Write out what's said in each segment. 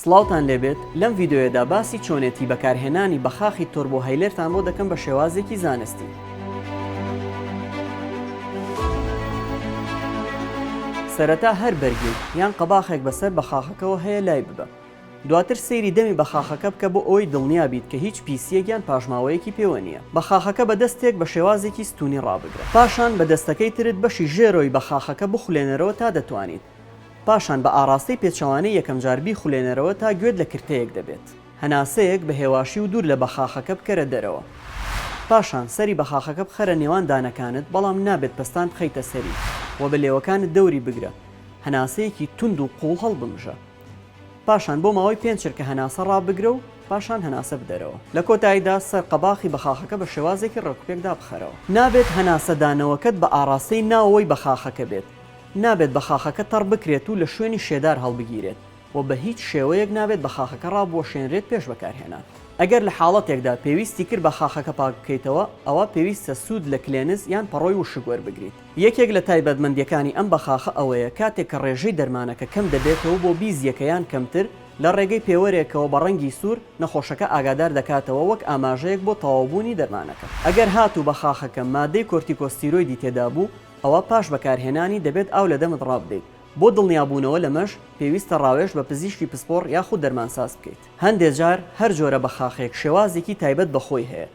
سڵاوتان لێبێت لەم ڤیدۆیەدا باسی چۆنێتی بەکارهێنانی بەخاخی تۆربۆ هەیلێرتان بۆ دەکەم بە شێوازێکی زانستی. سەرەتا هەر بەرگێک یان قەباخێک بەسەر بەخاخەکەوە هەیە لای ببە. دواتر سەیری دەمی بەخاخەکە بکە بۆ ئەوەی دڵنیا بیت کە هیچ پیسییەک یان پاشماوەیەکی پێوە نییە. بەخاخەکە بە دەستێک بە شێوازێکی ستوونی ڕابگرە. پاشان بە دەستەکەی ترت بەشی ژێرۆی بەخاخەکە بخولێنەرەوە تا دەتوانیت. پاشان بە ئاڕاستەی پێچەوانەی یەکەمجار بیخولێنەرەوە تا گوێت لە کرتەیەک دەبێت. هەناسەیەک بە هێواشی و دوور لە بەخاخەکە بکەرە دەرەوە. پاشان سەری بەخاخەکە بخەرە نێوان دانەکانت بەڵام نابێت پەستان بخەیتە سەری و بە لێوەکانت دەوری بگرە. هەناسەیەکی توند و قووڵ هەڵبمژە. پاشان بۆ ماوەی پێنج چرکە هەناسە ڕابگرە و پاشان هەناسە بدەرەوە. لە کۆتاییدا سەر قەباخی بەخاخەکە بە شێوازێکی ڕێکوپێک دابخەرەوە. نابێت هەناسەدانەوەکەت بە ئاڕاستەی ناوەوەی بەخاخەکە بێت. نابێت بە خاخەکە تەڕ بکرێت و لە شوێنی شێدار هەڵبگیرێت و بە هیچ شێوەیەک نابێت بە خاخەکە ڕابوەشێنرێت پێش بەکارهێنان. ئەگەر لە حاڵەتێکدا پێویستی کرد بە خاخەکە پاک بکەیتەوە، ئەوا پێویستە سوود لە کلێنز یان پەڕۆی وشک وەربگریت. یەکێک لە تایبەتمەندییەکانی ئەم بەخاخە ئەوەیە کاتێک کە ڕێژەی دەرمانەکە کەم دەبێتەوە بۆ بیزییەکە یان کەمتر، لە ڕێگەی پێوەرێکەوە بە ڕەنگی سوور، نەخۆشەکە ئاگادار دەکاتەوە وەک ئاماژەیەک بۆ تەواوبوونی دەرمانەکە. ئەگەر هاتوو بە خاخەکە مادەی کۆرتیکۆستیرۆیدی تێدابوو، ئەوا پاش بەکارهێنانی دەبێت ئاو لە دەمت ڕابدەیت، بۆ دڵنیابوونەوە لەمەش پێویستە ڕاوێژ بە پزیشکی پسپۆڕ یاخود دەرمانساز بکەیت، هەندێک جار هەر جۆرە بەخاخێک شێوازێکی تایبەت بە خۆی هەیە،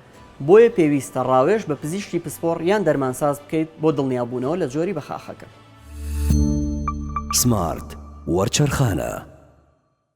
بۆیە پێویستە ڕاوێژ بە پزیشکی پسپۆڕ یان دەرمانساز بکەیت بۆ دڵنیابوونەوە لە جۆری بەخاخەکە. سمارت وەرچەرخانە.